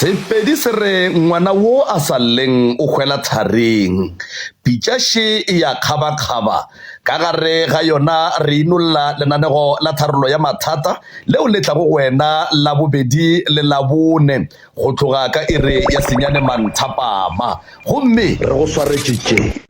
Sepedi se re ngwana wo a sa lleng o hwela tharing. Pitšaše e ya kgabakgaba. Ka gare ga yona re inolla lenanego la tharollo ya mathata leo le tlago go wena Labobedi le Labone go tloga ka iri ya senyane manthapama. Gomme re go swaretše tše.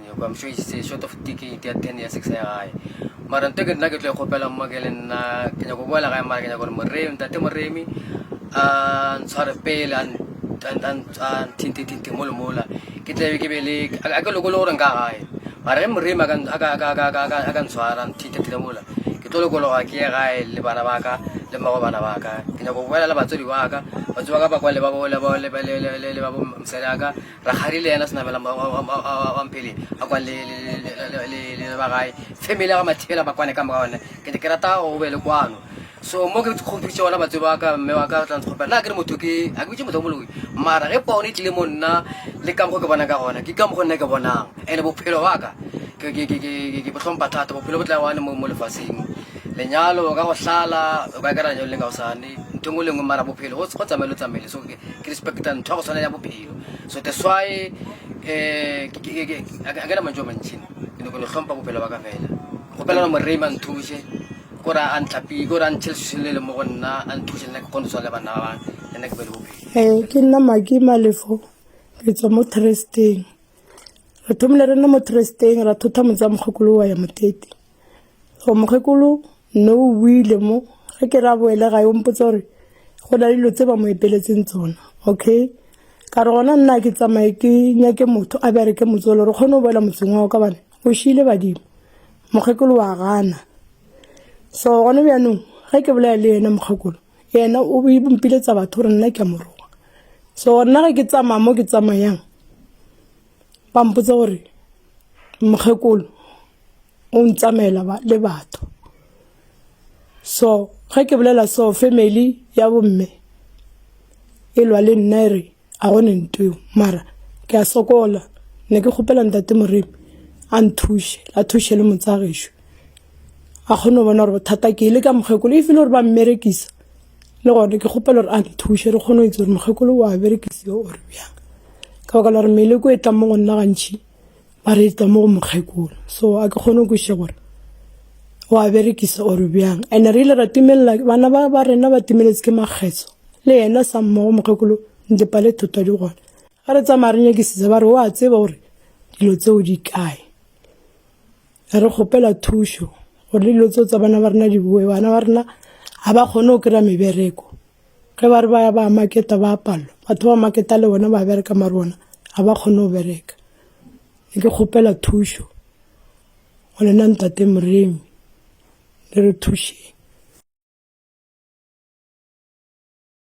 Nyoko, I'm sure he's uh, short of ticket ya 10 ya 6 ya gae mara nto ke nna ke tlo e kgopela mma ke le nna ke nyako boela gae mara ke nyako gore moremi ntate moremi a ntshware pele a nthintethinthe mole mola ke tlabe ke be le a ke lokole gore nka gae mara ge moremi a ka ntshwara nthintethile mola ke tlo lokologa ke ye gae le bana ba ka le mmago bana ba ka ke nyako boela le batswadi ba ka batswadi ba ka ba kwa le ba mosadi ya ka Rakgadi le yena Senabela Mampele a kwa le ba gae family ya ga Mathibela ba kwane ka moka one ke ke rata go be le kwano so mo ke kgopitse ona batse ba ka mme wa ka tla ntshopela na ke re motho ke a ke bitse motho moloi mara ge pono e tlile mo nna le ka mokgo ke bonang ka gona ke ka mokgo nna ke bonang ene bophelo wa ka ke ke ke ke ke botlhompa thata bophelo bo tla one mo mo lefatsheng lenyalo ka go hlala o ka kera lenyalo le ka go sane ntho e nngwe le nngwe mara bophelo go tsamaye lo tsamaile so ke respecta ntho ya go tshwana ya bophelo so that's why eh, a ke na mantso a mantšhi ke ne ko ne tlhompa bophelo ba ka fela kgopelana morema nthuse kore a ntlapile kore a ntšhele se le le mo go nna a nthuse nna ke kgone tshwa le bana ba bang le nna ke be le bophelo ee ke nna maki malefo re tswa mo tresteng re thomile re nne mo tresteng ra thotha motsa mokgokolo wa ya motete Go mokgekolo no o buile mo ge ke ra boele ga yo mpotsa gore go na le dilo tse ba mo epeletseng tsona okay ka re gona nna ke tsamaye ke nyake motho a bjare ke motsolo re kgone go boela motseng wa ka bane o šile badimo mokgekolo wa gana so gone bjanong ge ke bolaya le yena mokgekolo yena o mpiletsa batho gore nna ke a moroga so nna ge ke tsamaya mo ke tsamayang ba mpotsa gore mokgekolo o ntsamaela le batho so ge ke bolela so family ya bomme e lwa le nna e re a gone ntweo mara ke a sokola ne ke kgopela ntate moremi a nthuše a thuše le motsagešu a kgone go bona gore bothata ke le ka mokgekolo e file gore ba mmerekisa le gone ke kgopela gore a nthushe re kgone go itse gore mokgekolo wa berekisiwa ore bjang ka baka la gore meleko e tlang mo go nna gantšhi ba reetsa mo go mokgekolo so a ke kgone go kweša gore o a berekisa or bjang and re ile ra timelela bana ba ba rena ba timeletse ke makgetso le yena sa mmogo mokgekolo ntepa le tota di gona ga re tsamaya re nyakisitsa ba re o a tseba gore dilo tseo di kae re kgopela thušo gore le dilo tseo tsa bana ba rena di boe bana ba rena ga ba kgone go kry-a mebereko ge ba re ba ya ba maketa ba palelwa batho ba maketa le bona ba bereka mare bona ga ba kgone go bereka ne ke kgopela thušo go lena ntate moremi le re thušeng